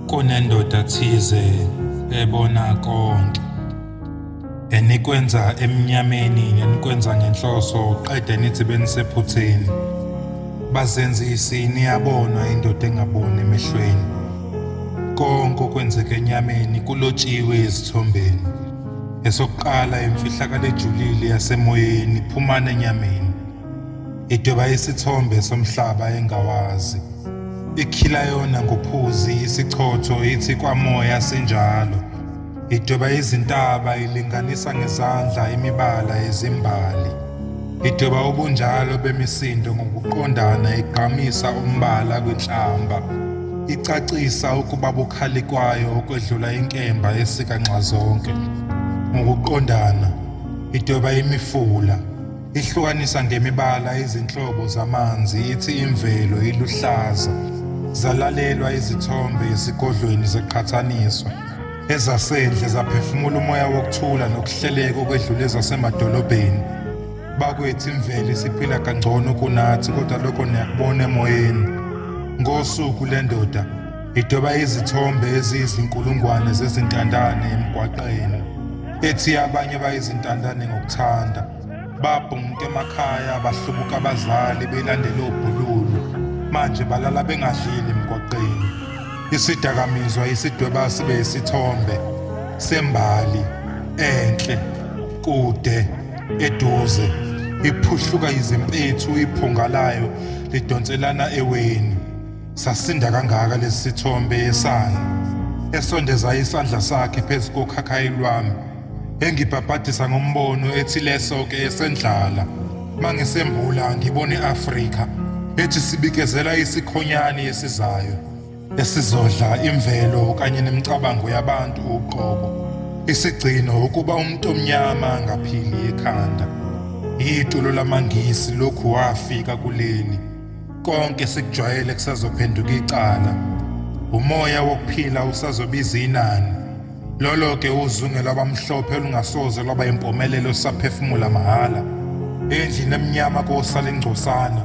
kunendoda thize ebona konke enikwenza emnyameni nenikwenza ngenhloso qede nithi benisephutheni bazenzisi niyabonwa indoda engaboni emehlweni konke okwenzeka enyameni kulotshiwe ezithombeni esokuqala imfihlakalo ejulile yasemoyeni phumana enyameni Idweba isithombe somhlaba engawazi. Ikhila yona ngophuzi isichotho ithi kwamoya sinjalo. Idweba izintaba ilinganisa ngezandla imibala yezimbali. Idweba ubunjalo bemisindo ngokuqondana igqamisa umbala kwinhlamba. Icacisa ukuba bukhali kwayo okwedlula inkemba esika nxazonke. Ngokuqondana, idweba imifula. Ihlukanisa ngemibala izinhlobo zamanzi ithi imvelo iluhlaza. Zalalelwa izithombe esigodlweni seqhathaniswa. Ezasendle zaphefumula umoya wokuthula nokuhleleka okwedlula ezasemadolobheni. Bakwethu imvelo isiphila kangcono kunathi kodwa lokho niyakubona emoyeni. Ngosuku lendoda Idweba izithombe eziyizinkulungwane zezintandane emgwaqeni, ethi abanye bayizintandane ngokuthanda. Babhunguka emakhaya, bahlubuka abazali belandela obhululu. Manje balala bengadlile emgwaqeni. Isidakamizwa isidweba sibe isithombe sembali enhle kude eduze iphuhluka izimpethu iphunga layo lidonselana eweni Sasinda kangaka lesi sithombe yesayo esondeza isandla sakhe phezu kokhakhayi lwami engibhabhadisa ngombono ethi leso ke esendlala mangisembula ngibona i-Afrika ethi sibikezela isikhonyane esizayo esizodla imvelo kanye nemicabango yabantu uqobo isigcino ukuba umuntu omnyama ngaphili ekhanda yitulo lamangisi lokhu wafika kuleli Konke sikujwayele kusazophenduka icala. Umoya wokuphila usazobiza inani. Lolo ke uzunge lwabamhlophe olungasoze lwaba impumelelo saphefumula mahhala. Endlini emnyama kosala ingcosana.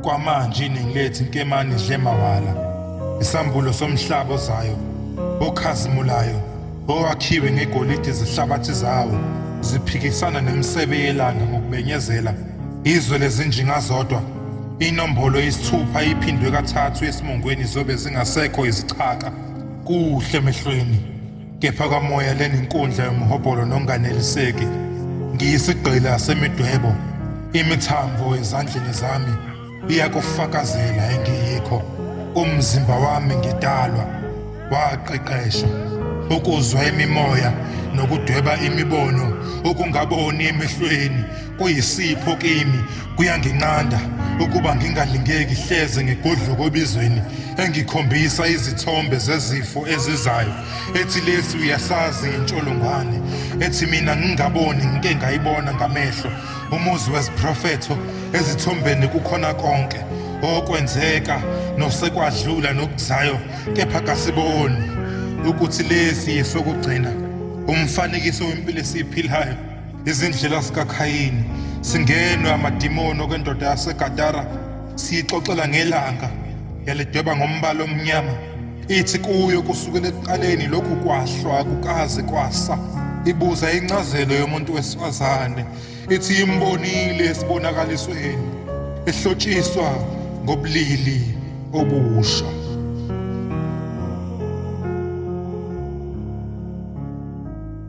Kwamanje iningi lethu inkemani idle mawala. Isambulo somhlaba ozayo okhazimulayo owakhiwe ngegolide izihlabathi zawo ziphikisana nemisebe yelanga ngokubenyezela izwe lezinjinga zodwa inombolo yesithupha iphindwe kathathu esimongweni zobe zingasekho izichaka kuhle emehlweni kepha kamoya leninkundla yomhobholo nonganeliseki ngiyisigqila semidwebo imithambo ezandleni zami iyakufakazela engiyikho umzimba wami ngidalwa waqeqeshwa ukuzwa imimoya nokudweba imibono ukungaboni emehlweni kuyisipho kimi kuyanginqanda ukuba ngingalingeki hleze ngigodloka obizweni engikhombisa izithombe zezifo ezizayo ethi lesi uyasazi intsholongwane ethi mina ngingaboni ngike ngayibona ngamehlo umuzi weziprofetho ezithombeni kukhona konke okwenzeka nosekwadlula nokuzayo kepha kasiboni ukuthi lesi yesokugcina umfanekiso wempilo esiyiphilayo izindlela zikaKhayini singenwe amadimoni okwendoda yaseGadara siyixoxela ngelanga yalidweba ngombala omnyama ithi kuyo kusukela ekuqaleni lokhu kwahlwa kukaze kwasa ibuza incazelo yomuntu wesifazane ithi imbonile esibonakalisweni ehlotshiswa ngobulili obusha